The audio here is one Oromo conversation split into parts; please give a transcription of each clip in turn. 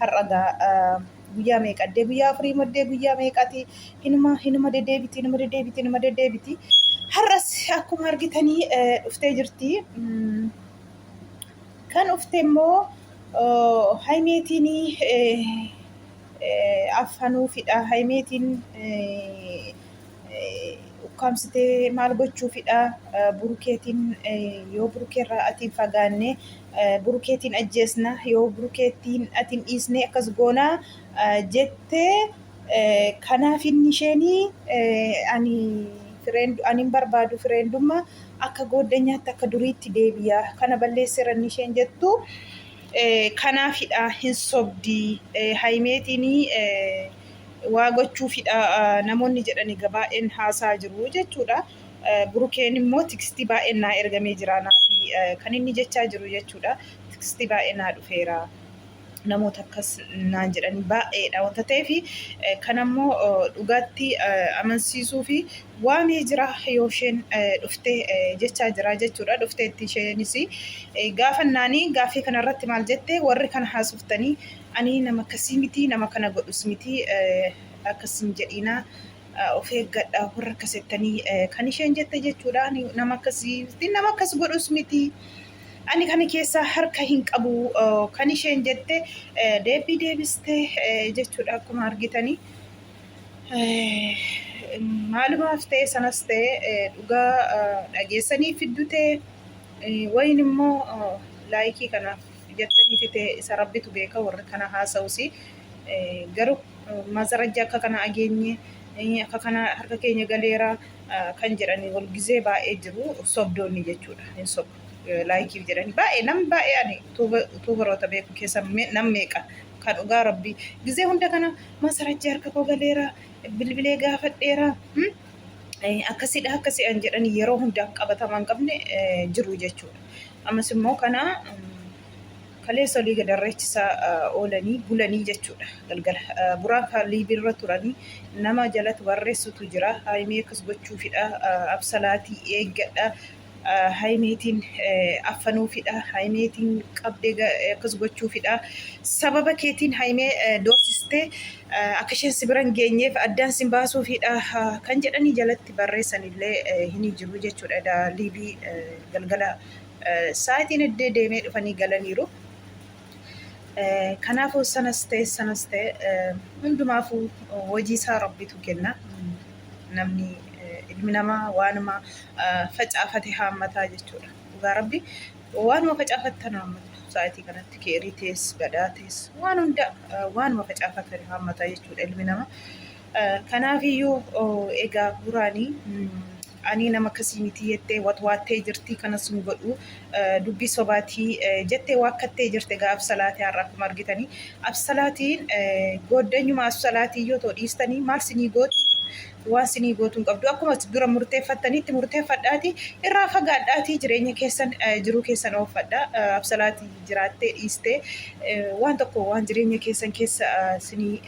har'a gaa guyyaa meeqa addee guyyaa afurii maddee guyyaa meeqati hinuma hinuma deddeebiti hinuma deddeebiti hinuma deddeebiti har'as akkuma argitanii dhuftee jirti kan dhufte immoo haymeetiin affanuufidha haymeetiin ukkaamsitee maal gochuufidha burukeetiin yoo burukeerraa atiin fagaanne burukeetiin ajjeesna yoo burukeetiin atiin dhiisne akkas goona jettee kanaaf inni isheenii ani anin barbaadu fireendumma akka gooddanyaatti akka duriitti deebi'a kana balleesseera inni isheen jettu kanaafidha hin sobdii hayimeetiin waa gochuufidha namoonni jedhan egaa baay'een haasaa jiru jechuudha. Burukeen immoo tikstii baay'een naa ergamee jira naafi kan inni jechaa jiru jechuudha. Tikstii baay'ee naa dhufeera. Namoota akkas naan jedhanii baay'eedha wanta ta'eef kan ammoo dhugaatti amansiisuu fi waamee jira yoo isheen dhufte jechaa jira jechuudha. Dhufteetti isheenis gaafannaanii gaaffii kanarratti maal jette warri kana haasoftanii Ani nama akkasii miti nama kana godhus miti akkas hin jedhiina of eeggadha warra akkas jettanii kan isheen jette jechuudha ani nama akkasii miti nama akkas godhus miti ani kana keessaa harka hin qabu kan isheen jette deebii deebiste jechuudha akkuma argitanii maalumaaf ta'e sanas ta'e dhugaa dhageessanii fiddu ta'e wayin immoo laayikii kanaaf jettanii fite isa rabbitu beeka warri kana haasa'usi garuu maazarajja akka kana ageenye akka kana harka keenya galeera kan jedhanii wal gizee baay'ee jiru sobdoonni jechuudha hin sobu laayikiif jedhanii baay'ee nam baay'ee ani tuubaroota beeku keessa nam meeqa kan dhugaa rabbii gizee hunda kana maazarajja harka koo galeera bilbilee gaafadheera Akkasidha akkasi an jedhan yeroo hundaaf qabatama hin qabne jiru jechuudha. Ammas immoo kana kaleessa olii gad irreechisaa oolanii bulanii jechuudha galgala. Buraan kan liibiirra turanii nama jalatti barreessutu jira. Haayimee akkas gochuufidha absalaatii eeggadha Hayimeetiin affanuufidha. Hayimeetiin qabdee akkas gochuufidha. Sababa keetiin hayimee doorsistee akka isheen si biran geenyeef addaan sin baasuufidha kan jedhanii jalatti barreessanillee hin jiru jechuudha. Edaa liivii galgala sa'aatiin eddee deemee dhufanii galaniiru. Eh, Kanaafuu sanas ta'e sanas ta'e eh, hundumaafuu eh, hojii isaa rabbitu kenna. Mm, Namni eh, ilmi namaa waanuma eh, facaafate haammataa jechuudha. Dhugaa rabbi waanuma facaafattan haammatu. Sa'aatii kanatti keerii tees, badaa tees, waan hunda eh, waanuma facaafattan haammataa jechuudha ilmi namaa. Kanaafiyyuu egaa Buuraani anii nama akkasii mitii jettee watwaattee jirti kanas hin godhu dubbii sobaatii jettee waakkattee jirti egaa Absalaati har'a akkuma argitanii Absalaatiin gooddanyuma Absalaatiin yoo ta'u dhiistanii maal sinii gooti waan sinii gootu hin qabdu akkuma dura murteeffattaniitti murteeffadhaatii irraa fagaadhaatii jireenya keessan jiruu keessan oofadha Absalaatii jiraattee dhiiste waan tokko waan jireenya keessan keessa sinii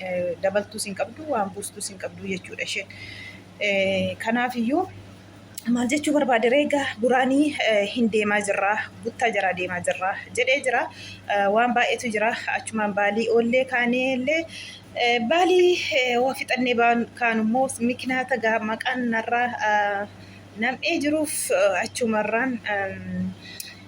dabaltuu sin qabdu waan buustuu sin qabdu jechuudha isheen. Kanaaf iyyuu maal jechuu barbaade reegaa duraanii hin deemaa jirraa buttaa jaraa deemaa jirraa jedhee jira waan baay'eetu jira achumaan baalii oollee kaanee illee baalii waa fixannee kaan immoo mikinaata gaa maqaan narraa nam'ee jiruuf achumarraan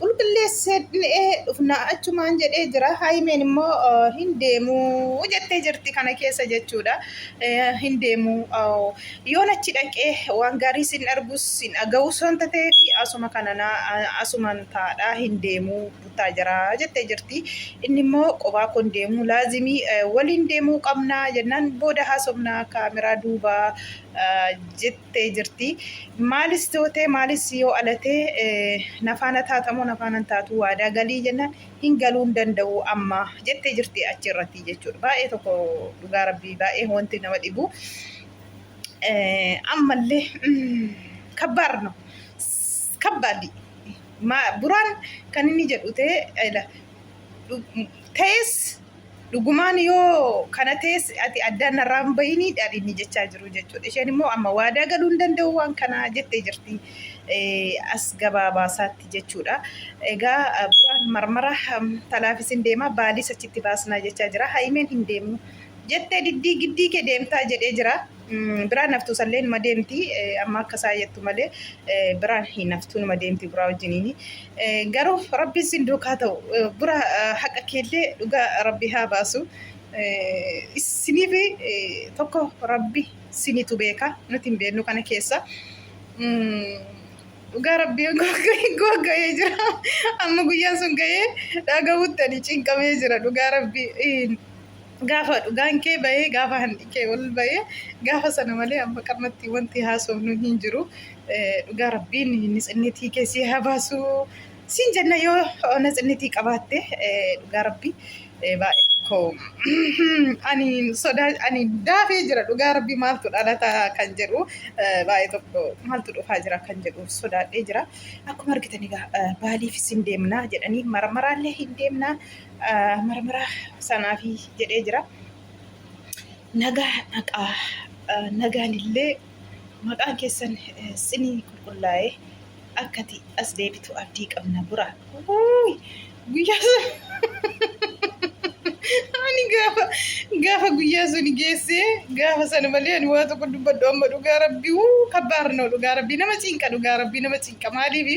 Qulqulleesseedhee dhufna achumaan jedhee jira. Haayimeen immoo hin deemuu jettee jirti kana keessa jechuudha. Hin deemuu yoon achi dhaqee waan gaarii sin argus sin aga'us wanta ta'eef asuma kanana asuman taadhaa hin deemuu buttaa jiraa jettee jirti. Inni immoo qobaa kun deemuu laazimii waliin deemuu qabnaa jennaan booda haasofnaa kaameraa duubaa jettee. ta'e jirti. Maalis tootee maalis yoo alatee nafaana taatamoo nafaana hin taatu waadaa galii jennaan hin galuu hin danda'u amma jettee jirti achi irratti jechuudha. Baay'ee tokko dhugaa rabbii baay'ee wanti nama dhibu. Ammallee kabbaar no kabbaaddi. Buraan kan inni jedhu ta'e ta'es Dhugumaan yoo kana tees ati addaan narraa hin bahinii dhaadhinni jechaa jiru jechuudha. Isheen immoo amma waadaa galuu hin danda'u waan kana jettee jirti as gabaabaasaatti jechuudha. Egaa buraan marmara talaafis hin deema baaliis achitti baasnaa jechaa jira. Haayimeen hin deemu jettee diddii giddii kee deemtaa jedhee jira. Biraan naftuu sallee numa deemti amma akka isaa jettu malee biraan hin naftuu numa deemti buraa wajjiniini. Garuu rabbiin sin duukaa ta'u bura haqa keellee dhugaa rabbi haa baasu. Isiniif tokko rabbi sinitu beeka nuti hin beeknu kana keessa. Dhugaa rabbii gogga'ee jira amma guyyaan sun ga'ee dhagahuutti ani cinqamee jira dhugaa rabbii. Gaafa dhugaan kee bahee gaafa hanni kee ol bahee gaafa sana malee amma qammatti wanti haasofnu hin jiru. Dhugaa rabbiin nitsinnitii kee si haa baasu. Siin jenna yoo nitsinnitii qabaatte dhugaa rabbi baay'ee tokko ani sodaa ani daafee jira dhugaa rabbi maaltu dhalata kan jedhu baay'ee tokko maaltu dhufaa jira kan jedhu sodaadhee jira. Akkuma argitanii baalii fi siin deemnaa jedhanii maramaraallee hin deemnaa. marmaraa sanaafi jedhee jira. Nagaa dhaqaa nagaan illee maqaan keessan sinii qulqullaa'ee akkati as deebitu abdii qabna bura. Guyyaa ani gaafa gaafa guyyaa sun geessee gaafa sana malee ani waa tokko dubbadhu amma dhugaa rabbii wuu kabbaar noo dhugaa rabbii nama cinqa dhugaa rabbii nama cinqa maaliifi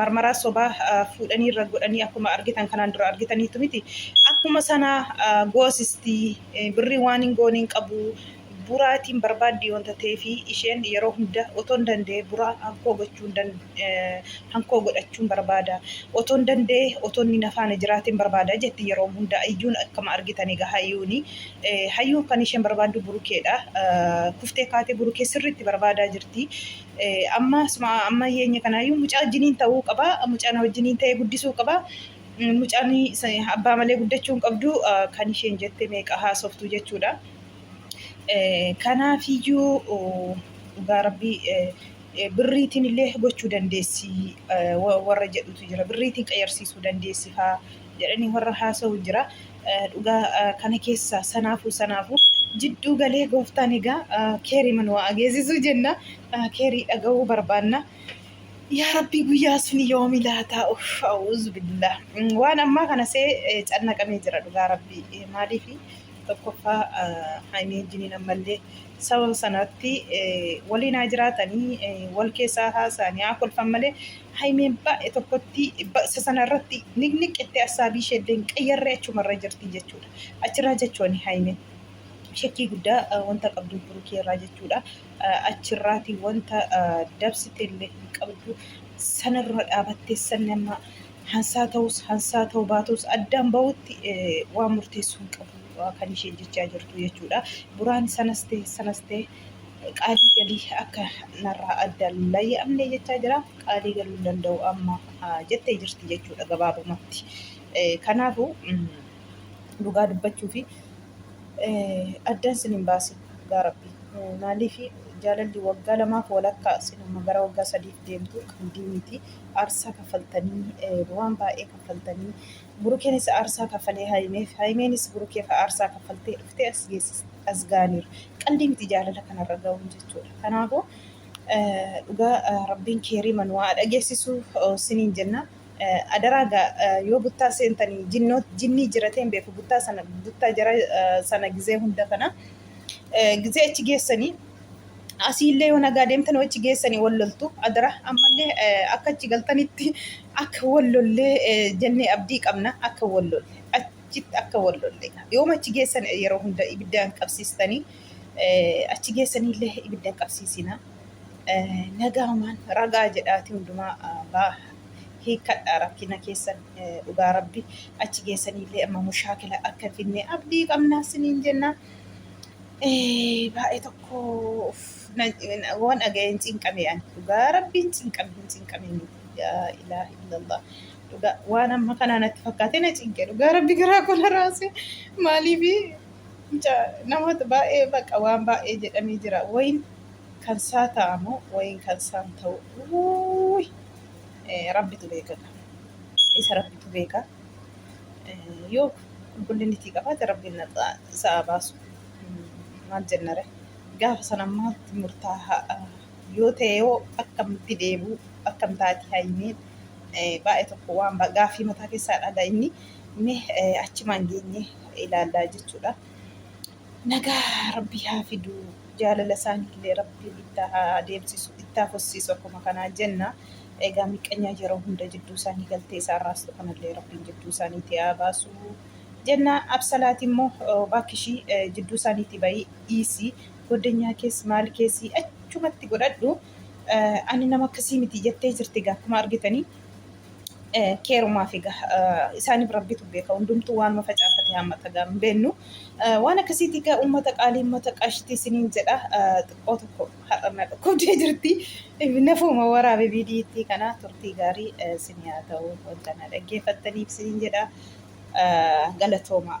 marmaraa sobaa fuudhanii irra godhanii akkuma argitan kanaan dura argitaniitu miti akkuma sana goosisti birrii waan hin goone hin qabu buraatiin barbaaddi wanta ta'eef isheen yeroo hunda otoo hin danda'e buraa hankoo gochuun hankoo godhachuun barbaada otoo hin danda'e otoo inni nafaana jiraatiin barbaada jetti yeroo hunda iyyuun akkuma argitan egaa hayyuuni hayyuun kan isheen barbaaddu burukeedha kuftee kaatee burukee sirriitti barbaadaa jirti Amma amma yeenya kanaayyuu mucaa wajjiniin ta'uu qaba. Mucaan wajjiniin ta'ee guddisuu qaba. Mucaan abbaa malee guddachuu hin qabdu kan isheen jette meeqa haasoftu jechuudha. Kanaafiyyuu dhugaa rabbii birriitiin illee gochuu dandeessi warra jedhutu jira. Birriitiin qayyarsiisuu dandeessi faa. jedhanii warra haasa'u jira. Dhugaa kana keessaa sanaafuu sanaafuu jidduu galee gooftaan egaa keeriiman waa ageessisuu jenna. Keerii dhaga'uu barbaanna. Yaa Rabbii guyyaa sun yoomi laataa uff a'uuzu billah waan ammaa kana see cannaqamee jira dhugaa Rabbii maaliif tokkoffaa haymii jiniin ammallee Sababa sanaatti waliin haa jiraatanii wal keessaa haasa'anii haa kolfan malee Haymeen baay'ee tokkotti baqsa sana irratti niqniqqittee assaabii ishee illee hin qayyarree achumarra jirti jechuudha. Achirraa jechuun Haymeen shakkii guddaa wanta qabdu Burukii irraa jechuudha. Achirraati wanta dabsite illee hin qabdu. Sanarra dhaabattee sanni amma hansaa ta'us hansaa ta'uu baatus addaan bahutti waan murteessu hin qabu. kan isheen jechaa jirtu jechuudha. Buraan sanas ta'e sanas ta'e qaalii galii akka narraa adda layya'amne jechaa jira. Qaalii galuu hin danda'u amma jettee jirti jechuudha gabaabumatti. Kanaafuu dhugaa dubbachuu fi addaan sin hin baasin dhugaa rabbi. Maaliif jaalalli waggaa lamaaf walakkaa sin amma gara waggaa sadiif deemtu qalbii miti. Aarsaa kaffaltanii waan baay'ee kaffaltanii Burukeenis aarsaa kaffalee Hayimeef, Hayimeenis Burukeef aarsaa kaffaltee dhuftee as geessiste. As ga'aniiru. Qaldii miti jaalala kanarra ga'uun jechuudha. Kanaafuu dhugaa Rabbiin keeriima nu haa dhageessisu siniin jenna. Adaraa gaa yoo buttaa seentanii jinnii jiratee hin beeku buttaa sana buttaa jara sana gizee hunda kana gizee achi geessanii asiillee yoo nagaa deemtan wachi geessanii wal loltu adara ammallee akka achi galtanitti akka wal lollee jennee abdii qabna akka wal lolle achitti akka wal lolle yoo achi geessan yeroo hunda ibiddaan qabsiistanii achi geessaniillee ibiddaan qabsiisina nagaamaan ragaa jedhaati hundumaa baa hiikkadhaa rakkina keessan dhugaa rabbi achi geessaniillee amma mushaakila akka finne abdii qabna siniin jennaa. Baay'ee tokko waan dhaga'een cinqame ani dhugaa rabbiin cinqame hin cinqame miti yaa ilaah illallah dhugaa waan amma kanaa natti fakkaatee na cinqe dhugaa rabbi garaa koo na raase maaliif namoota baay'ee baqa waan baay'ee jedhamee jira wayin kan saa ta'amu wayin kan saan ta'u rabbitu beekaka isa rabbitu beeka. yoo qulqullinni itti qabaate rabbiin naxa sa'a baasu maal jennare gaafa sana maaltu murtaa'a yoo ta'e yoo akkamitti deebi'u akkam taati hayyimeen baay'ee tokko waan gaaffii mataa keessaa dhaga inni mee achimaan geenye ilaallaa jechuudha. Nagaa rabbi haa fidu jaalala isaaniillee rabbiin ittaa haa deemsisu ittaa fussiisu akkuma kanaa jenna egaa miqqanyaa yeroo hunda jidduu isaanii galtee isaan raastu kanallee rabbiin jidduu isaaniitii haa baasu jenna absalaati immoo baakkishii jidduu isaaniitii bayii dhiisi goddanyaa kees maal keesii achumatti godhadhu ani nama akkasii miti jettee jirti egaa akkuma argitanii keerumaaf egaa isaaniif rabbitu beeka hundumtuu waanuma facaafate hammata egaa hin beennu waan akkasiiti egaa uummata qaalii uummata qashtii isiniin jedha xiqqoo tokko har'a na dhukkubdee jirti nafuuma waraabe viidiyiitti kana turtii gaarii isinii haa ta'u wanta na dhaggeeffattaniif isiniin jedha galatoomaa.